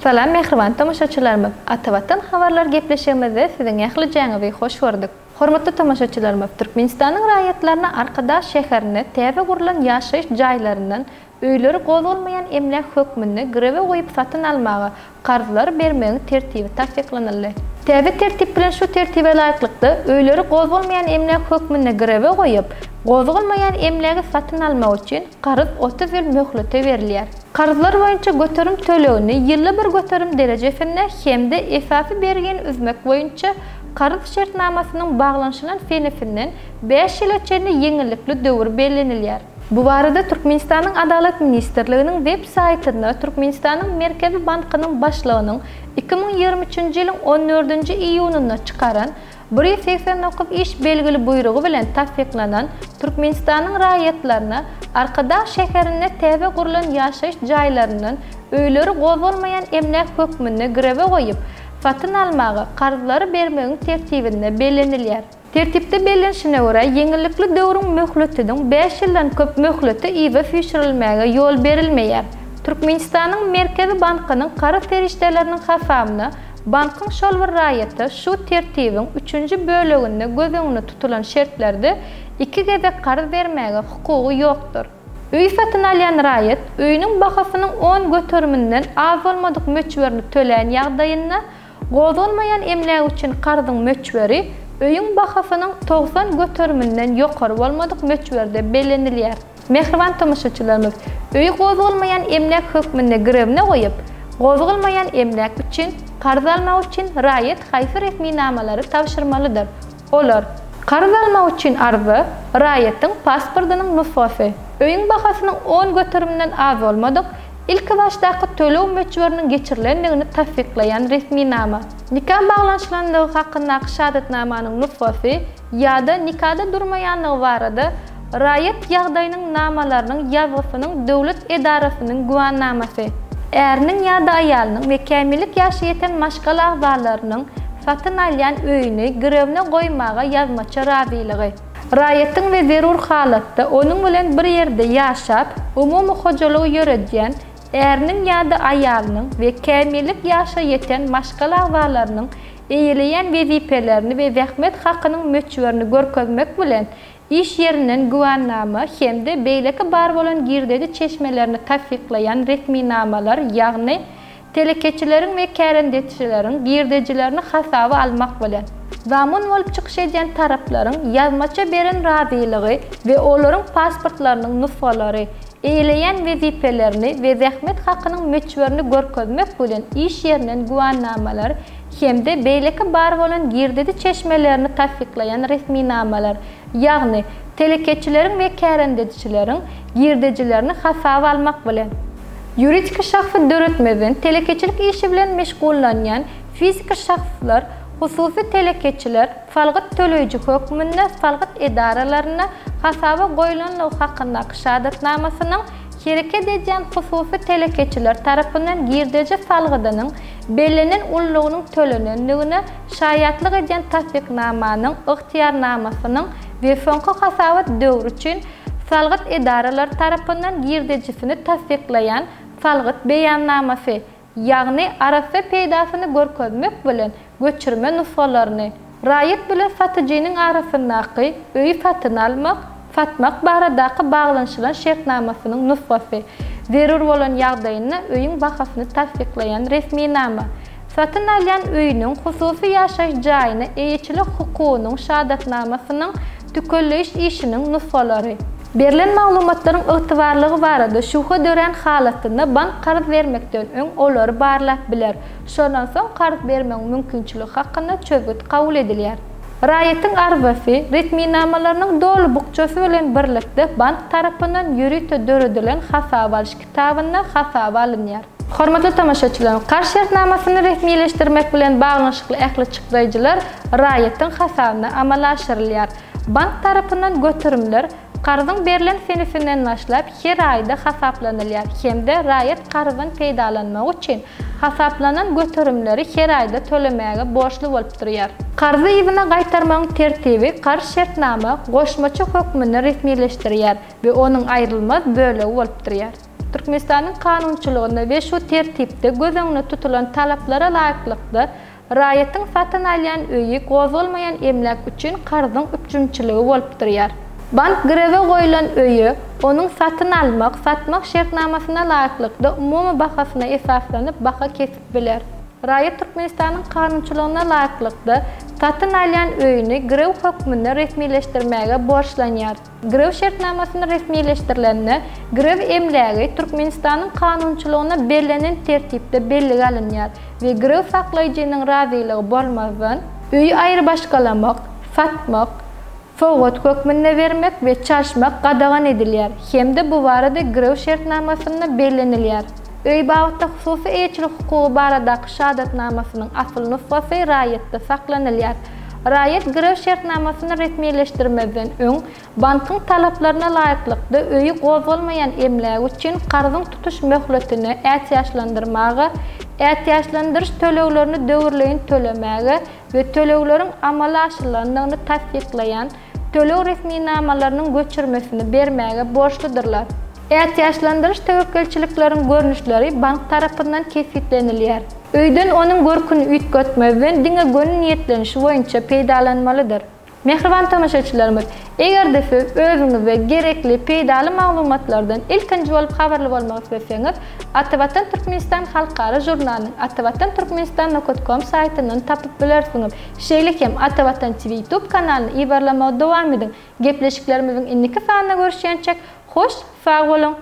Salam mähriban tomaşaçylarymyz! Atawatan habarlar gepleşigimizde siziň ählijäňizi hoş gördük. Hormatly tomaşaçylarymyz, Türkmenistanyň raýatlaryna Arkadag şäherinde täze gurlan ýaşaýyş jaýlaryndan öýleri gozgalmaýan emläk hökmünde girewe goýup satyn almaga karzlary bermegiň tertibi tassyklanyldy. Täze tertip bilen şu tertibe laýyklykda öýleri gozgalmaýan emläk hökmünde girewe goýup, gozgalmaýan emlägi satyn almak üçin karz otuz ýyl möhlete berilýär. Karzlar boýunça göterim tölegini ýylda bir göterim derejesinde hem-de esasy bergini üzmek boýunça karz şertnamasynyň baglanyşylan senesinden bäş ýyla çenli ýeňillikli döwür bellenilýär. Bu barada Türkmenistanyň Adalat ministrliginiň web saýtynda Türkmenistanyň Merkezi bankynyň başlygynyň iki müň ýigrimi üçünji ýylyň on dördünji iýunynda çykaran Biri segsen dokuz iş belgili buýrugy bilen tassyklanan Türkmenistanyň raýatlaryna Arkadag şäherinde täze gurlan ýaşaýyş jaýlaryndan öýleri gozgalmaýan emläk hökmünde girewe goýup, satyn almaga, karzlary bermegiň tertibinde bellenilýär. Tertipde bellenişine görä, ýeňillikli döwrüň möhletiniň bäş ýyldan köp möhleti yza süýşürilmäge ýol berilmeýär. Türkmenistanyň Merkezi bankynyň karyz serişdeleriniň hasabyna Bankyň şol bir raýata şu Tertibiň üçünji böleginde göz öňünde tutulan şertlerde iki gezek karz bermäge hukugy ýokdur. Öý satyn alýan raýat öýüniň bahasynyň on göteriminden az bolmadyk möçberini tölän ýagdaýynda, gozgalmaýan emlägi üçin karzyň möçberi öýüň bahasynyň togsan göteriminden ýokary bolmadyk möçberde bellenilýär. Mähriban tomaşaçylarymyz, öýi gozgalmaýan emläk hökmünde girewine goýup, gozgalmaýan emläk üçin karz almak üçin raýat haýsy resminamalary tabşyrmalydyr? Olar. Karz almak üçin arza, raýatyň pasportynyň nusgasy, öýüň bahasynyň on göterimden az bolmadyk, ilkibaşdaky töleg möçberiniň geçirilendigini tassyklaýan resminama, nika baglanyşylandygy hakyndaky şahadatnamanyň nusgasy, ýa-da nikada durmaýanlygy barada raýat ýagdaýynyň namalarynyň ýazgysynyň döwlet edarasynyň güwannamasy. Äriniň ýa-da aýalynyň we kämillik ýaşy ýeten maşgala agzalarynyň satyn alýan öýüni girewine goýmaga ýazmaça razylygy. Raýatyň we zerur halatda onuň bilen bir ýerde ýaşap, umumy hojalygy ýöredýän äriniň ýa-da aýalynyň we kämillik ýaşa ýeten maşgala agzalarynyň eýeleýän wezipelerini we zähmet hakynyň möçberini görkezmek bilen, iş ýerinden güwänama hem-de beýleki bar bolan girdeji çeşmelerini tassyklaýan resminamalar, ýagny telekeçileriň we kärendeçileriň girdejilerini hasaba almak bilen, zamun bolup çykyş edýän taraplaryň ýazmaça beren razylygy we olaryň pasportlarynyň nusgalary, eýleýän wezipelerini we zähmet hakynyň möçberini görkezmek bilen iş ýerinden güwänamalar hem-de beýleki bar bolan girdedi çeşmelerini tassyklaýan resminamalar, ýagny telekeçileriň we kärendeçileriň girdejilerini hasaba almak bilen. Ýuridik şahsy döretmezden telekeçilik işi bilen meşgullanýan fiziki şahslar, hususy telekeçiler, Salgyt töleýji hökmünde salgyt edaralaryna hasaba goýlanlygy hakyndaky şahadatnamasynyň hereket edýän hususy telekeçiler tarapyndan girdeji salgydynyň bellenen ullugynyň tölenendigine şaýatlyk edýän tassyknamanyň, ygtyýarnamasynyň, we soňky hasabat döwri üçin salgyt edaralary tarapyndan girdejisini tassyklaýan salgyt beýannamasy, ýagny arassa peýdasyny görkezmek bilen göçürme nusgalaryny, raýat bilen satyjynyň arasyndaky öýi satyn almak, satmak baradaky baglanyşylan şertnamasynyň nusgasy, zerur bolan ýagdaýynda öýüň bahasyny tassyklaýan resminama, satyn alýan öýüniň hususy ýaşaýyş jaýyna eýeçilik hukugynyň şahadatnamasynyň tükelleýiş işiniň nusgalary. Berlen maglumatlaryň ygtybarlygy barada şübhe dörän halatynda bank karz bermekden öň olary barlap biler, şondan soň karz bermegiň mümkinçiligi hakynda çözgüt kabul edilýär. Raýatyň arzasy, resminamalarynyň doly bukjasy bilen birlikde bank tarapyndan ýörite döredilen hasaba alyş kitabynda hasaba alynýar. Hormatly tomaşaçylarym, karz şertnamasyny resmileşdirmek bilen baglanyşykly ähli çykdaýjylar raýatyň hasabyna amala aşyrylýar. Bank tarapyndan göterimler karzyň berlen senesinden başlap her aýda hasaplanylýar hem-de raýat karzdan peýdalanmagy üçin hasaplanan göterimleri her aýda tölemäge borçly bolup durýar. Karzy yzyna gaýtarmagyň tertibi karz şertnama goşmaça hökmünde resmileşdirýär we onuň aýrylmaz bölegi bolup durýar. Türkmenistanyň kanunçylygynda we şu tertipde göz öňünde tutulan talaplara laýyklykda Raýatyň satyn alýan öýi gozgalmaýan emläk üçin karzyň üpjünçiligi bolup durýar. Bank girewe goýlan öýe, onuň satyn almak, satmak şertnamasyna laýyklykda umumy bahasyna esaslanyp baha kesip biler. Raýat Türkmenistanyň kanunçylygyna laýyklykda, satyn alýan öýüni girew hökmünde resmileşdirmäge borçlanýar. Grew şertnamasyny resmileşdirilende, Grew emlägi Türkmenistanyň kanunçylygynda bellenen tertipde bellige alynýar we Grew saklaýjynyň razylygy bolmazdan, öýi aýrybaşgalamak, satmak, sowgat hökmünde bermek we çalyşmak gadagan edilýär hem-de bu barada Grew şertnamasynda bellenilýär. Öý babatda hususy eýeçilik hukugy baradaky şahadatnamasynyň asyl nusgasy raýatda saklanylýar. Raýat girew şertnamasyny resmileşdirmezden öň bankyň talaplaryna laýyklykda öýi gozgalmaýan emlägi üçin karzyň tutuş möhletini ätiýaçlandyrmaga, ätiýaçlandyryş töleglerini döwürleýin tölemäge we tölegleriň amala aşyrylandygyny tassyklaýan töleg resminamalarynyň göçürmesini bermäge borçludyrlar. Ätiýaçlandyryş töwekgelçilikleriň görnüşleri bank tarapyndan kesgitlenilýär. Öýden onuň görküni üýtgetmezden diňe göni niýetlenişi boýunça peýdalanmalydyr. Mähriban tomaşaçylarymyz, eger-de siz özüňize gerekli peýdaly maglumatlardan ilkinji bolup habarly bolmak isleseňiz, Atavatan Türkmenistan halkara žurnalynyň Atavatan Türkmenistan nokat kom saýtyndan tapyp bilersiňiz. Şeýle hem Ata Watan TV YouTube kanalyny ybarlamagy dowam ediň. Gepleşiklerimiziň indiki sanynda görüşýänçäk, hoş, sag boluň!